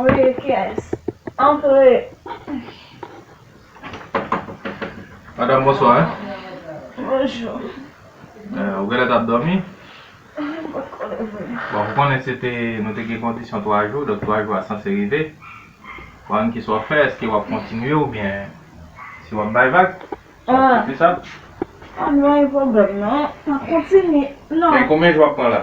Antre kiyes? Antre! Madam bonswa. Bonjou. Ou genlè tap dòmi? Mwen pat konn leve. Bon, ou konnen se te, nou te gen kondisyon 3 jou, donk 3 jou a sanse rive. Bon, kisa wap fè? Eske wap kontinye oubyen si wap bay vag? Se pou sa? An, mwen gen pwoblèm non. Map kontinye. Non. Men konbyen jou wap pran la?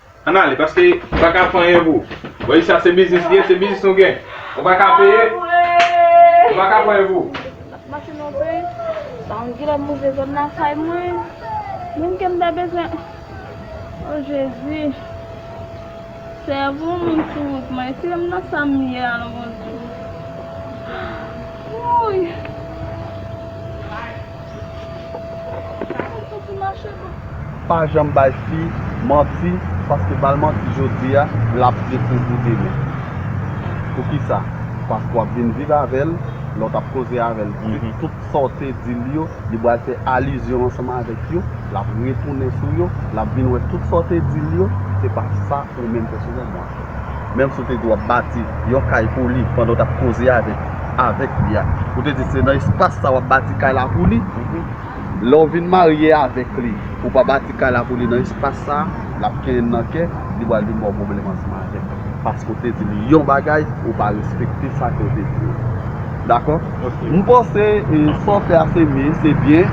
Ann ale paske ou pa ka ap fè anyen pou. Wè li sa se biznis li ye se biznis nou gen. Ou pa ka peye. Ou pa ka ap fè anyen pou. Nap mache nan yon peyi san yon gilè move zòn nan kay mwen. Moun kem ta bezwen oh jezi. Sèvo moun sou wout mwen eske m nan sam ye a non bondye. Wouyy. Pa janm bay fi manti paske bal manti jodia lap dekouvri demen poukisa paske wap vin viv avèl lè w tap koze avèl tout sa w te dil yo li pral fè alizyon ansanm avèk yo lap retounen sou yo lap vin wè tout sa w te dil yo se pa sa ou menm pèsonèlman. Menm si w te di w ap bati yon kay pou li pandan w t ap koze avèk li a. Ou te di se nan espas sa w ap bati kay la pou li. Lè w vin marye avèk li, ou pa bati kay la pou li nan espas sa a, l ap kenyen l nan kè, li pral vin ba w pwoblèm ansanm avè l. Paske w te di li yon bagay, ou pa respekte sa ke w te di yo. Dakò? M panse sa w fè a se byen, se byen.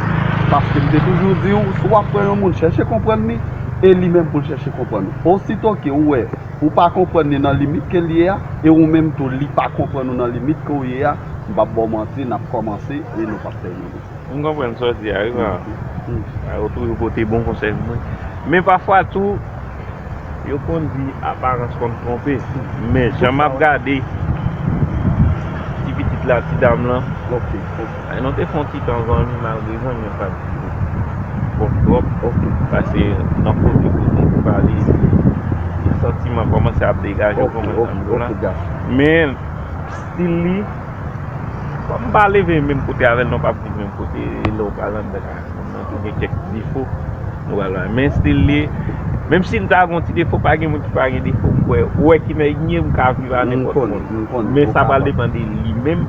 Paske m te toujou di w, si w ap pran yon moun, chèche konprann li, e li menm pou l chèche konprann ou. Osito ke ou wè ou pa konprann li nan limit ke l ye a, e ou menm tou li pa konprann ou nan limit ke w ye a, m p ap ba w manti, n ap kòmanse e nou p ap tèmine. M konprann sa w di a wi pa a. Ou toujou pote bon konsèy pou mwen. Men pafwa tou, yo konn di aparans konn twonpe. Men jan m ap gade ti pitit la, ti dam lan. Ay nou te fon titan zanmi malgre zanmi yo pat dire twòp twòp ok. Pase nan kote pou di pou pale epi yon santiman kòmanse ap degajew pou mwen zanmi pou la men stil li kòm pa leve menm kote avèl nou pap viv menm kote lèw pral anndan ka moun nan tou gen kèk ti defo nou pral wè men stil li menm sil ta gon ti defo pa gen moun ki pa gen defo mkwè ou wè ki nan ecnyem ka viv a nenpòt moun men sa pral depan de li menm.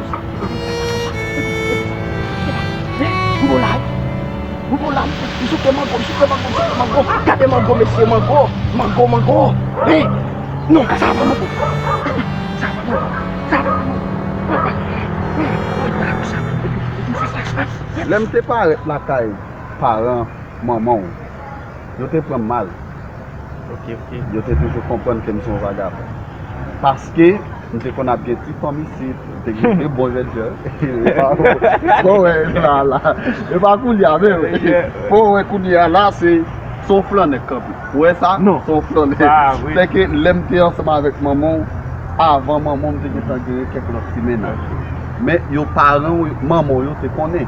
Lè m te parèt lakay paran manman w, yo te pran m mal. Yo te toujou konprann ke m se yon vagabon. Paske, m te konn ap gen ti fanm isit, m te gen de bon jèn jan. E pa ou wè la a la. E pa kounye a menm. Fò ou wè kounye a la a, se yon flannè kanpe. Ou wè sa? Non. Se yon flannè. Se ke lè m te ansanm avèk manman ou, avan manman ou m te gen tan genyen kèk lòt ti mennaj. Men yo paran ou, manman ou yo te konnen.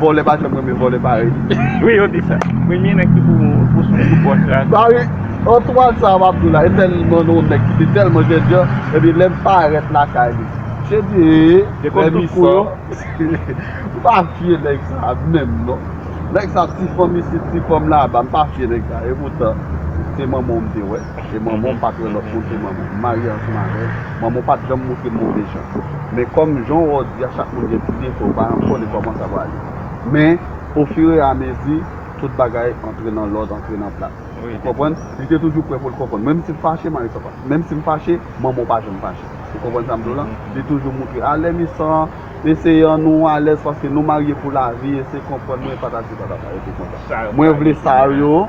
Vòlè pa janm renmen vòlè parèy li. Wi yo di sa. Premye nèg ki pou pou sou kou bòs la. Ba wi Antoine sa wap di la e tèlman non nèg ki te tèlman jènjan epi lèm parèt lakay li se di ee lè mi san m pa fye nèg sa menm non nèg sa ti fanm isit ti fanm laba m pa fye nèg sa epoutan se manman w m te wè. E manman w pa t wè lòt moun ke manman w. M marye ansanm avè l. Manman w pa t janm montre m move jan. Men kòm jan w di a chak moun gen ti defo yo, paran m konnen kòman sa prale. Men ofireamezi tout bagay antre nan lòd, antre nan plas. Ou konprann? Li te toujou prè pou l konprann. Menm si l fache, mari sa pa. Menm si m fache, manman w pa janm fache. Ou konprann sa m di w la? Li toujou montre, alè misa, eseye an nou alèz paske nou marye pou lavi, eseye konprann mwen, patati patata. Yo te kontan. Mwen vle sa yo.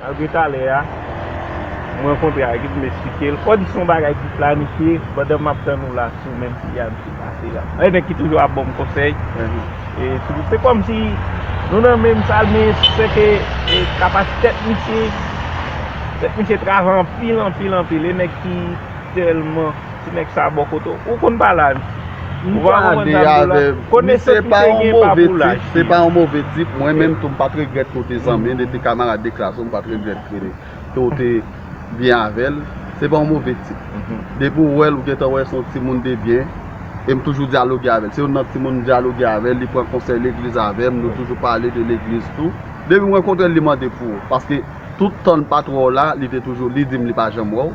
Malgre talè a, m rankontre ak li pou m esplike l, kòm se yon bagay ki planifye, pandan m ap tann ou la sou menm pi a m sou pase la. Yon nèg ki toujou ap ban m konsèy, se kòm si nou nan menm sal men se ke kapasite tèt misye, tèt misye travay anpil anpil anpil, yon nèg ki tèlman. Ti nèg sa bò kote w. Ou konn pale avè m. Ou pa konprann sa m di w la. Konesans m te gen pa pou laj li. Se pa yon move tip. Mwen menm tou m pa t regrèt ke w te zanmi l. Li te kamarad de klas ou. M pa t regrèt ke w te byen avè l. Se pa yon move tip. Depi w wè l, ou gen tan wè se yon timoun de byen. E m toujou dyaloge avè l. Se youn nan timoun m dyaloge avè l. Li pran konsèy legliz avè m. Nou toujou pale de legliz tou. Depi m rankontre l, li mande pou ou. Paske tout tan l pa t wè w la, li te toujou, li di m li pa janm wè w.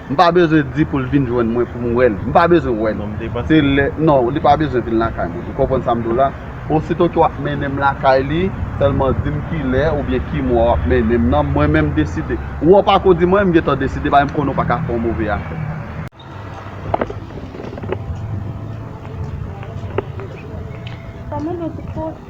M pa bezwen di pou l vin jwenn mwen pou m wè l. M pa bezwen wè l. Se lè, non, li pa bezwen vin lakay mwen. Ou konprann sa m di w la? Osito ke w ap mennen m lakay li, sèlman di m ki lè oubyen ki mwa w ap mennen m nan, mwen menm deside. Ou an pako di mwen, m gentan deside paske m konnen w pa ka fè yon move afè. Sa mande yon ti fòs.